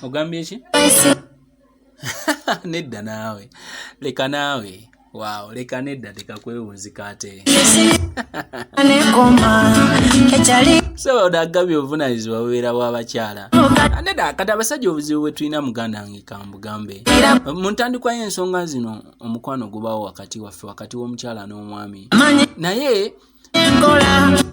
ogambye ki nedda naawe leka naawe waawo leka nedda tekakwewunzika ate soboda agabye obuvunanyizibwa bubeera bwabakyala nedda kati abasajja obuzibu bwe tulina muganda nge kambugambe mu ntandikwa y'ensonga zino omukwano gubawo wakati waffe wakati w'omukyala n'omwami naye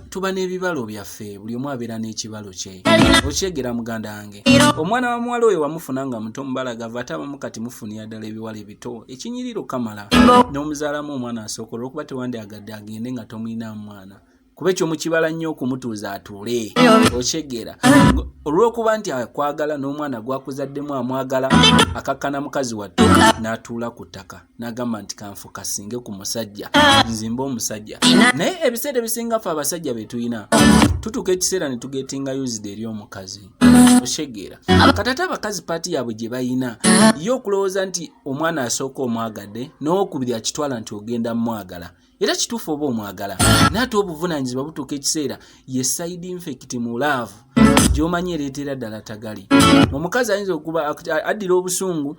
tuba n'ebibalo byaffe buli omu abeera n'ekibalo kye okyegera muganda wange omwana wa muwala oyo wamufuna nga muto mubalagava ate abamu kati mufunira ddala ebiwala ebito ekinyiriro kamala n'omuzaalamu omwana asooka olwokuba tewandi agadde agende nga tomulinamu mwana kuba ekyo mukibala nnyo okumutuuza atuule okyegera olw'okuba nti akwagala n'omwana gwakuzaddemu amwagala akakkana mukazi wattu n'atuula ku ttaka nagamba nti kanfokasinge ku musajja nzimba omusajja naye ebiseera ebisinga fe abasajja betulina tutuuka ekiseera netugetinga used eri omukazi oshegeera katata abakazi paati yaabwe gye bayina ye okulowooza nti omwana asooka omwagadde nowokubiri akitwala nti ogenda mumwagala era kituufu oba omwagala naye ate obuvunaanyizibwa butuuka ekiseera ye side infect mu laavu gyomanyi ereetera ddala tagali omukazi ayinza okuba addira obusungu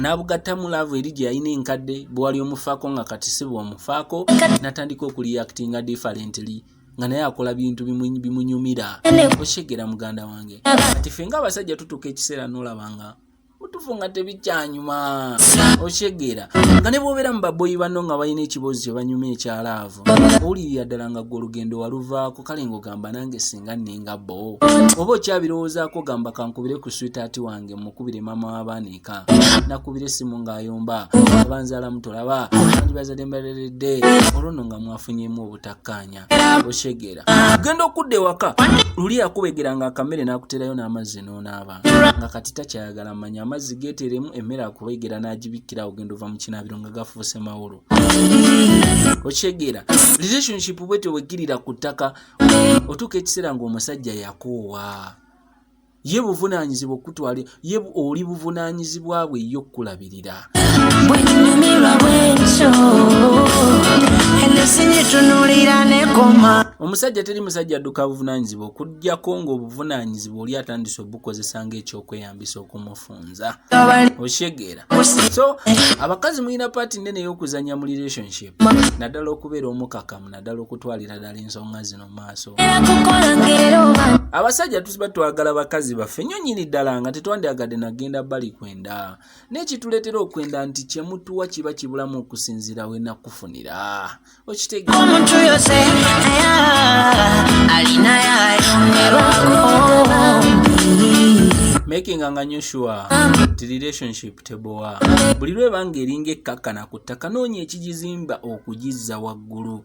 n'abugattamu laavu eri gye yalina enkadde bwewali omufaako nga kati si bwomufaako n'atandika okuliyakitinga differently nga naye akola bintu bimunyumira okyegera muganda wange kati ffe nga abasajja tutuuka ekiseera n'olaba nga mutufu nga tebikyanyuma okitegeera nga ne bwobeera mu baboyi banno nga balina ekibozi kye banyuma ekyalaavu owulirira ddala nga gwe olugendo waluvaako kale ngaogamba nange singa nninga bo oba okyabirowoozaako ogamba kankubire ku switaati wange mukubire maama w'abaana eka nakubira essimu ng'ayomba abanzaalamu tolaba andibazadde mbaleredde olwo nno nga mwafunyemu obutakkaanya oshegera ogenda okudda ewaka luli yakubegera nga akamere nakuterayo n'amazzi nonaaba nga kati takyayagala manya amazzi geteremu emmere akubegera n'agibikkira ogenda ova mu kinaabiro nga gafuuse mawolo okyegera relationship bwe tewegirira ku ttaka otuuka ekiseera ng'omusajja yakoowa ye buvunaanyizibwa okukutwala ye oli buvunaanyizibwa bwe ye okukulabirira omusajja teri musajja adduka buvunaanyizibwa okugyako ng'obuvunaanyizibwa oli atandise obukozesa ng'ekyokweyambisa okumufunza okyegeera so abakazi mulina paati nnene ey'okuzannya mu relationship naddala okubeera omukakamu naddala okutwalira ddala ensonga zino mu maaso abasajja tusiba twagala bakazi baffe nyo nyini ddala nga tetwandyagadde nagenda bali kwenda naye kituleetera okwenda nti kyemutuwa kiba kibulamu okusinziira we nakufunira makinga nga nyo sure ti relationship tebowa buli lwebanga eringa ekkakkana ku ttaka noonya ekigizimba okugizza waggulu